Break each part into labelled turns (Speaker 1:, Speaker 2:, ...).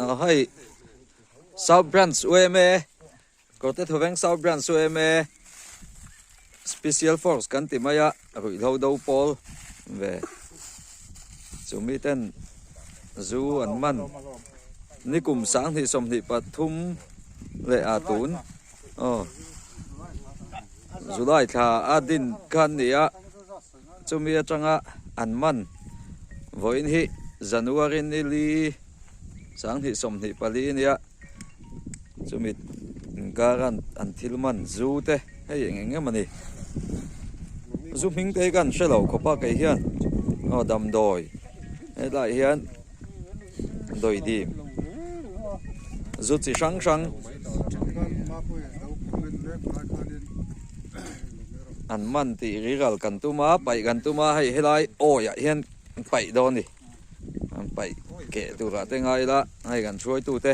Speaker 1: Aw hei South Branch UMA Kawrte Thuveng South Branch UMA Special Force kan ti mai a ruihlo do pawl ve chu mi ten zu an man nikum sang hnih sawm hnih pathum leh a tun Aw. July thla a din kha an nih a, chumi atanga an man. Vawiin hi January nil i sang hnih sawm hnih pali a nia, chumi inkara an thil man zu te hei eng eng em a ni. Zu hming te hi ka han hre lo khawp a kei hian. Aw, Damdawi. Helaiah hian. Dawidi zu chi hrang hrang an man tih rilral kan tum a, paih kan tum a, hei helai awiah hian paih dawn ni. An paih keh turah te ngai la, hei kan hruaitu te.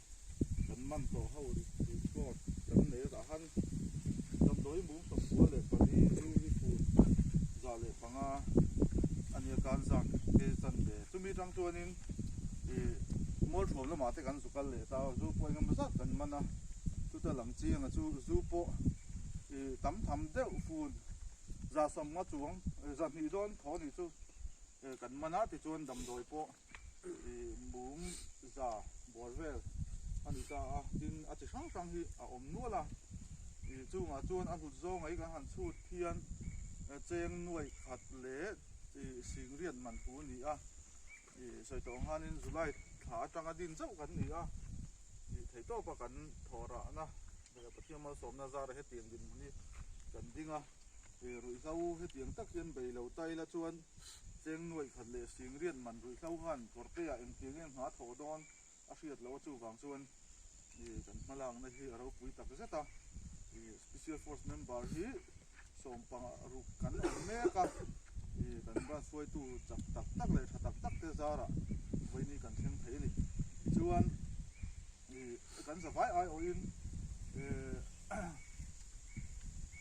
Speaker 2: Kan man tawh ho ri ri sawm kan nei a tah han kan dawi mum sawm bul leh pali ri ri fut zah leh panga a nia kan zak te chan ve chumi tang chuanin ih mualthuam lamah te kan zu kal leh ta zu pawh engemaw zat kan man a chuta lam chianga chu zu pawh ih tam tham deuh fun zah sawmnga chuang zahnih dawn thaw ni chu kan man a tichuan damdawi pawh bum za buar vel a ni ta a, tin a chi hrang hrang hi a awm nual a, ih chungah chuan a hnut zawngaih kan han chhut hian cheng nuaih khat leh ih singriat manphu a ni a, ih sawi tawh ang hianin July thla atanga din zauh kan ni a, ih thei tawpa kan thaw rah na leh Pathian malsawmna zara hetiang dinhmun hi kan ding a, ih ruihhla u hetiang tak hian beilo ta ila chuan Cheng nuaih khat leh sing riat man ruih hlau han kawrpeiah engtiang eng hma thawh dawn a hriat loh a, chuvang chuan i kan hmalakna hi a ropui tak zet a, i Special Force member hi sawmpanga ruk kan awm mek a, i kan rat hruaitu chak tak tak leh tha tak tak te zarah vaini kan thleng thei a ni. Tichuan i kan zavai aiawhin e.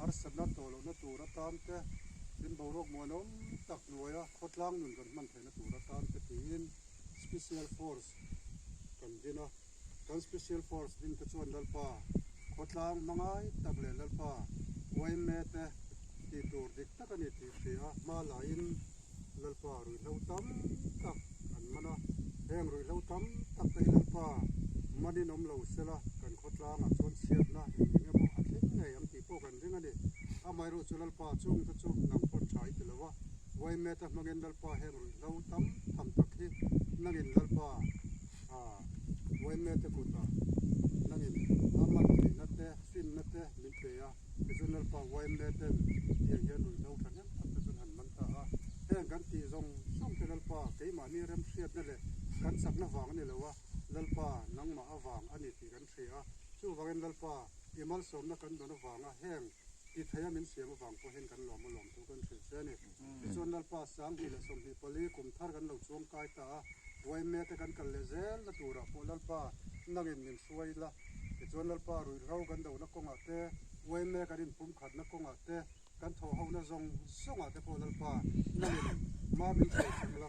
Speaker 2: harsatna tawh lohna tur atan te, tin boruak muan a awm tak hnuaia khawtlang nun kan hman theihna tur atan te tiin Special Force kan din a. Kan Special Force din te chuan Lalpa khawtlang hmangai tak leh Lalpa YMA te tih tur dik tak a ni tih hria hma lahin, Lalpa ruihhlo tam tak an man a, heng ruihhlo tam tak te hi Lalpa manin awm lo sela kan khawtlangah chuan chhiatna engeng emaw a thleng ngei ang tih pawh kan ring a ni. Amaherawhchu chu Lalpa chung te chu nang pawh tha i ti lo va, Waimet-a hmangin Lalpa heng ruihhlo tam tham tak hi nangin Lalpa Waimet-a kutah nangin a man theihna te finna te min pe a. Zonal park Waimle ten ti ang hian ruihno tha hnem tak te chuan han man ta a, heng kan tih zawng zawng te Lalpa keimahni remhriatna leh kan chakna vang a ni lo a, Lalpa nangmah avang a ni tih kan hria a, chuvangin Lalpa i malsawmna kan dawn avanga heng ti theia min siam avang pawhin kan lawma lawm thu kan hrilh che a ni. Tichuan Lalpa Sanghnih leh Sawmhnih pali kum thar kan lo chuang kai ta a, Ruaimea te kan kal leh zel na turah pawh Lalpa nangin min hruai ila, tichuan
Speaker 3: Lalpa ruihhro kan dona kawngah te, Ruaimea kan inpumkhatna kawngah te, kan thawhhona zawng zawngah te pawh Lalpa nangin mah min hruai thleng la.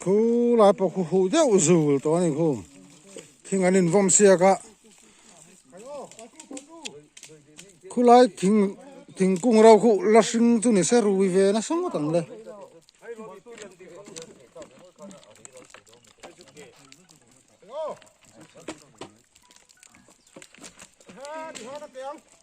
Speaker 3: Khu lai pawh khu huh deuh zul tawh a ni khu. Thing an invawn siak a. Khu lai thing thingkung ro khuh la hring chu ni se rui ve nasa ngawt ang le.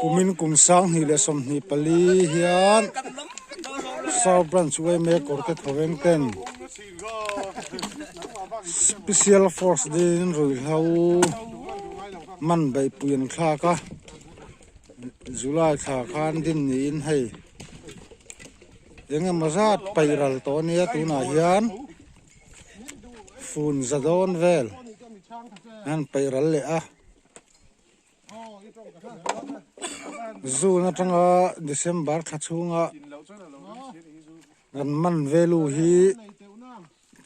Speaker 3: kumin kum sang hnih leh sawm hnih pali hian south branch uaime kawrte thawveng ten special force dingin ruihhlo manbaihpui an thlak a. July thla khan din niin hei engemaw zat paih ral tawh a nia tunah hian fun za dawn vel an paih ral leh a June atanga December thla chhunga kan man value hi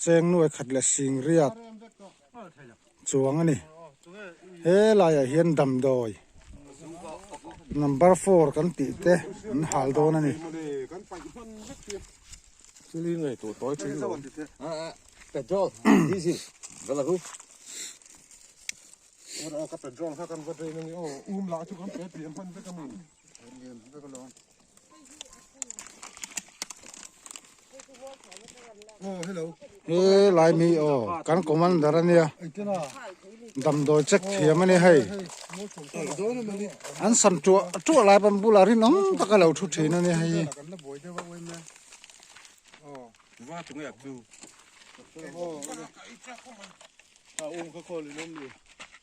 Speaker 3: Cheng nuai khat leh sing riat chuang a ni. He laiah hian damdawi number four kan tih te an hal dawn a ni.
Speaker 2: Hee
Speaker 3: lai mi aw kan commander a nia damdawi check thiam a ni hei an sam tuah tuah lai pan bulah rinawm taka lo thu thin a ni hei hi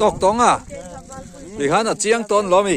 Speaker 1: tawk tawng a tui khan a chiang tawn lo mi